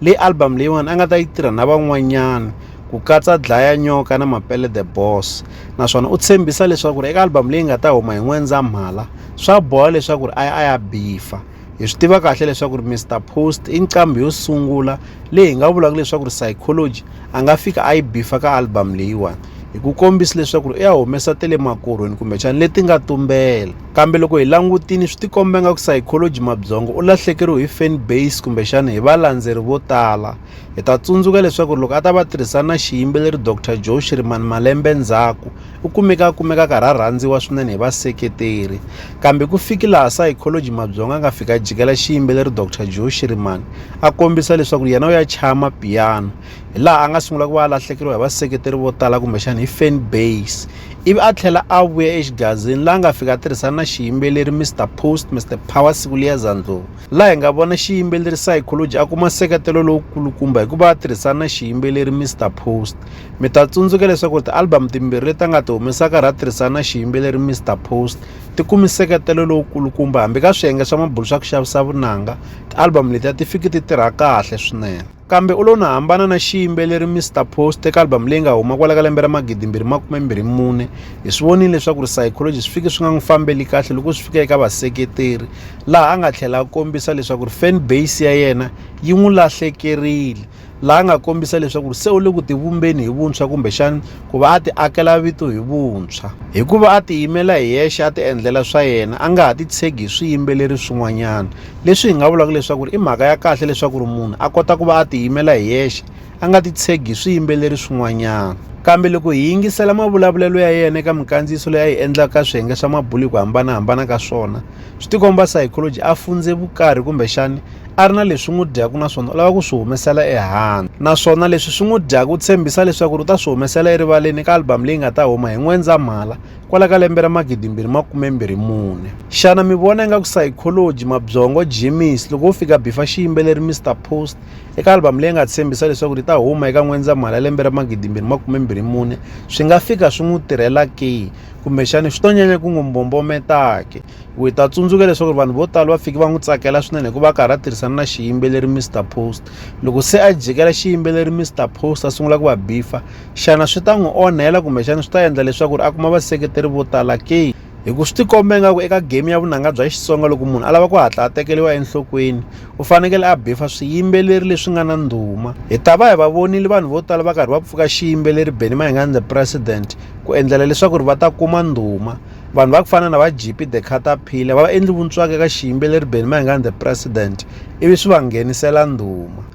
leyi album leyiwani a nga ta yi tirha na van'wanyana ku katsa dlaya nyoka na mapele the boss naswona u tshembisa leswaku ri eka album leyi nga ta huma hi n'wendzamhala swa boha leswaku ri a ya a ya bifa hi swi tiva kahle leswaku ri mr post i nqambi yo sungula leyi hi nga vulaka leswaku ri psychology a nga fika a yi bifa ka album leyiwani hi ku kombisa leswaku ri u ya humesa ta le makorhweni kumbexana leti nga tumbela Kambe loko hi langutile swi tikomba nga ku psychology mabyongo u lahlekeriwe hi fan base kumbexana hi valandzeri vo tala hi ta tsundzuka leswaku loko a ta va tirhisana na xiyimbeleri dr joe shirimani malembe ndzhaku u kumeka kumeka karhi a rhandziwa swinene hi vaseketeri kambe ku fiki laha psychology mabyongo a nga fika jikela xiyimbeleri dr joe shirimani a kombisa leswaku yena u ya chaya mapiyano hi laha a nga sungula ku va a lahlekeriwa hi vaseketeri vo tala kumbexana hi fan base ivi a tlhela a vuya exigazini laha nga fika a tirhisana na xiyimbeleri mr post mr power siku liya zandlovu laha hi nga vona xiyimbeleri psychology a kuma nseketelo lowukulukumba hikuva a tirhisana na xiyimbeleri mr post mi ta tsundzuka leswaku ti-album timbirhi leti a nga ti humesaka ra tirhisana na xiyimbeleri mr post ti kumi nseketelo lowukulukumba hambi ka swiyenge swa mabulu swa ku xavisa vunanga ti-album letiya ti fiki ti tirha kahle swinene Kambe u lo na hambana na xiyimbeleri Mister Post eka album leyi nga huma kwala ka lembe ra 2024. Hi swi vonile leswaku ri Psychology swi fike swi nga n'wi fambeli kahle loko swi fika eka vaseketeri, laha a nga tlhela a kombisa leswaku ri fan base ya yena yi n'wi lahlekerile, laha nga kombisa leswaku ri se u le ku tivumbeni hi vuntshwa kumbexana ku va a ti akela vito hi vuntshwa. Hi ku va a tiyimela hi yexe a ti endlela swa yena, a nga ha titshegi hi swiyimbeleri swin'wanyana. leswi hi nga vulaka leswaku i mhaka ya kahle leswaku ri munhu a kota ku va a tiyimela hi yexe a nga titshegi hi swiyimbeleri swin'wanyana kambe loko hi yingisela mavulavulelo ya yena eka minkandziyiso leyi a yi endlaka ka swiyenge swa mabulu hi ku hambanahambana ka swona swi tikomba psychology a fundze vukarhi kumbexani a ri na leswi n'wi dyaku naswona u lava ku swi humesela ehandle naswona leswi swi n'wi dyaku u tshembisa leswaku ri u ta swi humesela erivaleni eka album leyi nga ta huma hi n'wendzamhala kwala ka lembe ra magidimbirhi makume mbirhi mune xana mi vona ingaku psychology mabyongo jimis loko wo fika bifa xiyimbeleri mr post eka album leyi nga tshembisa leswaku ri ta huma eka n'wendzamhala ya lembe ra magidimbirhi makume mbirhi mune swi nga fika swi n'wi tirhela ke kumbexani swi to nyanya ku n'wi mbombometake ku hi ta tsundzuka leswaku vanhu vo tala va fiki va n'wi tsakela swinene hikuva a karhi a tirhisana na xiyimbeleri mr post loko se a jikela xiyimbeleri mr post a sungula ku va bifa Xana swi ta n'wi onhela kumbexana swi ta endla leswaku ri a kuma vaseketeri vo tala ke hi ku swi tikomba ingaku eka game ya vunanga bya xitsonga loko munhu a lava ku hatla a tekeriwa enhlokweni u fanekele a befa swiyimbeleri leswi nga na ndhuma hi ta va hi va vonile vanhu vo tala va karhi va pfuka xiyimbeleri beni mahingani the president ku endlela leswaku ri va ta kuma ndhuma vanhu va ku fana na va gp the cataphile va va endli vuntswaka eka xiyimbeleri beni mahingani the president ivi swi va nghenisela ndhuma